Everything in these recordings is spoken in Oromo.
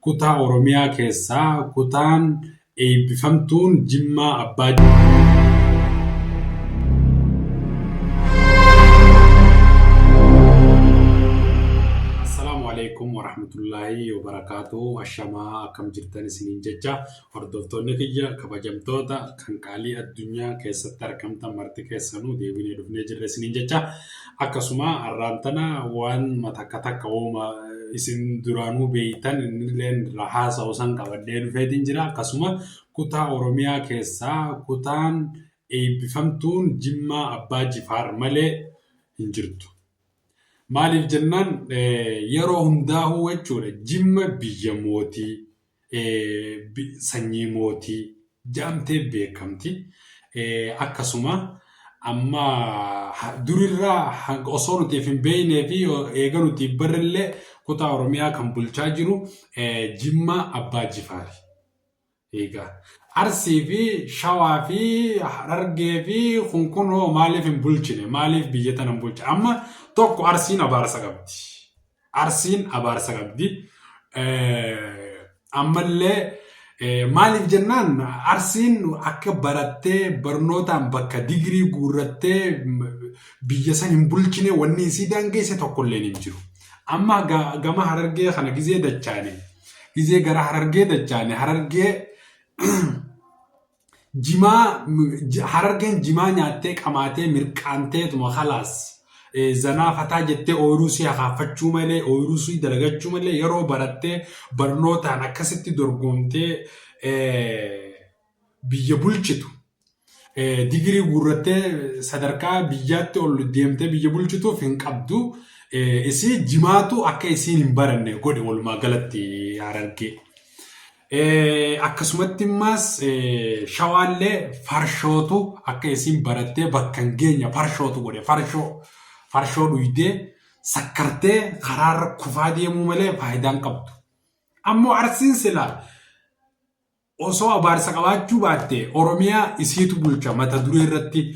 Kutaa Oromiyaa keessaa kutaan eebbifamtuun Jimmaa Abbaa. Assalaamu alaikum warahmatullaahi wabarakaatuh. Ashamaa akkam jirtan isiniin jecha Hordoftoonni kiyya kabajamtoota kan qaalii addunyaa keessatti argamtan marti keessanuu deebinee dhufnee jirra isiniin jecha akkasuma har'aan tana waan matakka takka wooma isin duraanuu beeytan innilleen irraa haasa'u san qabadhee dhufeetiin jira akkasuma kutaa Oromiyaa keessaa kutaan eebbifamtuun Jimmaa Abbaa Jifaar malee hin jirtu. Maaliif jennaan yeroo hundaa'uu jechuudha Jimma biyya mootii sanyii mootii jedhamtee beekamti. Akkasuma amma durirraa osoo nuti hin beeknee fi eega nuti barrillee kutaa Oromiyaa kan bulchaa jiru Jimmaa Abbaa Jifaari. Egaa Arsii fi Shawaa fi Harargee fi kun kun hoo maaliif hin bulchine? Maaliif biyya tana hin bulchine? Amma tokko Arsiin abaarsa qabdi. Arsiin abaarsa qabdi. Ammallee maaliif jennaan arsiin akka barattee barnootaan bakka digirii guurrattee biyya san hin bulchine wanni isii daangeesse tokkollee hin jiru. Amma gama harargee kana gizee dachaane gizee gara harargee dachaane harargee Jimaa harargeen jimaa nyaattee qamaatee mirqaanteetuma khalaas zanaa fataa jettee ooyiruu si hakaafachuu malee ooyiruu si dalagachuu malee yeroo barattee barnootaan akkasitti dorgomtee biyya bulchitu digirii guurrattee sadarkaa biyyaatti ol deemtee biyya bulchituuf hin qabdu isii jimaatu akka isiin hin baranne godhe walumaa galatti harargee. Akkasumatti immaas shawaallee farshootu akka isiin barattee bakka hin geenya farshootu godhe farshoo farshoo dhuydee sakkartee karaarra kufaa deemuu malee faayidaan qabdu. Ammoo arsiin sila osoo abaarsa qabaachuu baatte Oromiyaa isiitu bulcha mata duree irratti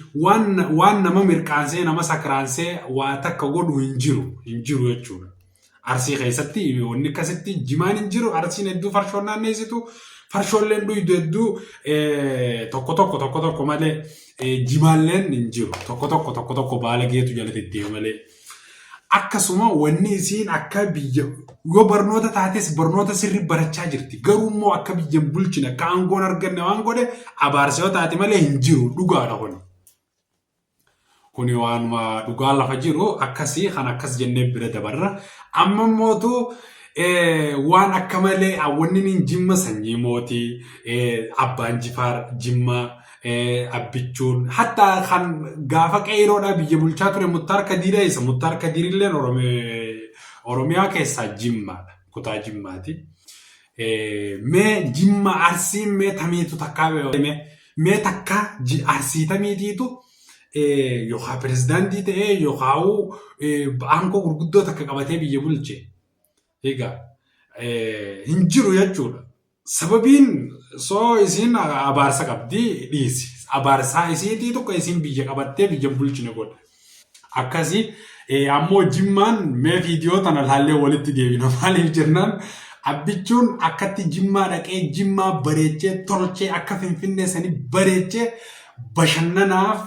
waan nama mirqaansee nama sakraansee waa takka godhu hin jiru hin jiru jechuudha. Arsii keessatti wanni akkasitti jimaan hin jiru. Arsiin hedduu farshoon naanneessitu. Farshoolleen dhuydu hedduu tokko tokko tokko tokko malee jimaalleen hin jiru. Tokko tokko tokko tokko baala geetu jala deddeema malee. Akkasuma wanni isiin akka biyya yoo barnoota taates barnoota sirri barachaa jirti. Garuu immoo akka biyya hin bulchine akka aangoon arganne waan godhe abaarsa yoo taate malee hin jiru dhugaadha kun. Kuni waanuma dhugaa lafa jiru akkasii kan akkas jennee bira dabarra. Amma immootu waan akka malee awwanniin jimma sanyii mootii abbaan jifaar jimma abbichuun hatta kan gaafa qeeyiroodhaa biyya bulchaa ture muttaar kadiira isa muttaar kadiirilleen oromiyaa keessaa jimmaadha kutaa jimmaati. Mee jimma arsiin mee tamiitu takkaa beekame mee takkaa arsii tamiitiitu yookaan pirezidaantii ta'ee yookaan aangoo gurguddoo takka qabatee biyya bulche. Egaa hin jiru jechuudha. Sababiin soo isiin abaarsa qabdi dhiisi. Abaarsaa isiitii tokko isiin biyya qabattee biyya bulchine godha. akkasi ammoo jimmaan mee viidiyoo tana laallee walitti deebina maaliif jennaan abbichuun akkatti jimmaa dhaqee jimmaa bareechee tolchee akka finfinnee sani bareechee bashannanaaf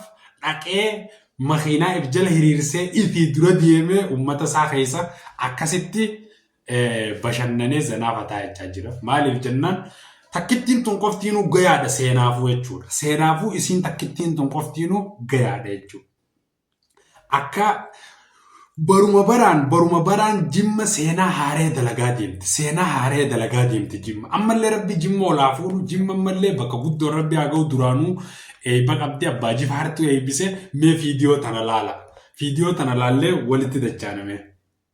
dhaqee makiinaa if jala hiriirsee ifii dura deemee ummata isaa keessa akkasitti bashannanee zanaa fataa jechaa jira. Maaliif jennaan takkittiin tun qoftiinuu gayaadha seenaafuu jechuudha. Seenaafuu isiin takkittiin tun qoftiinuu gayaadha jechuudha. Akka baruma baraan baruma baraan jimma seenaa haaree dalagaa deemti. Seenaa haaree dalagaa deemti jimma. Ammallee rabbi jimma olaa fuudhu jimma ammallee bakka guddoo rabbi haa ga'u duraanuu eebba qabdi abbaa jifaartuu eebbise mee fiidiyoo tana laala. Fiidiyoo tana laallee walitti dachaaname.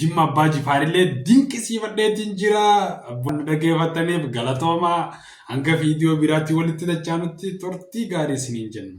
Jimma Abbaa Jifaarillee dinqisiifadheetiin jira. Abbaan dhaggeeffattaniif galatoomaa hanga viidiyoo biraatti walitti dachaanutti turtii gaarii isiniin jenna.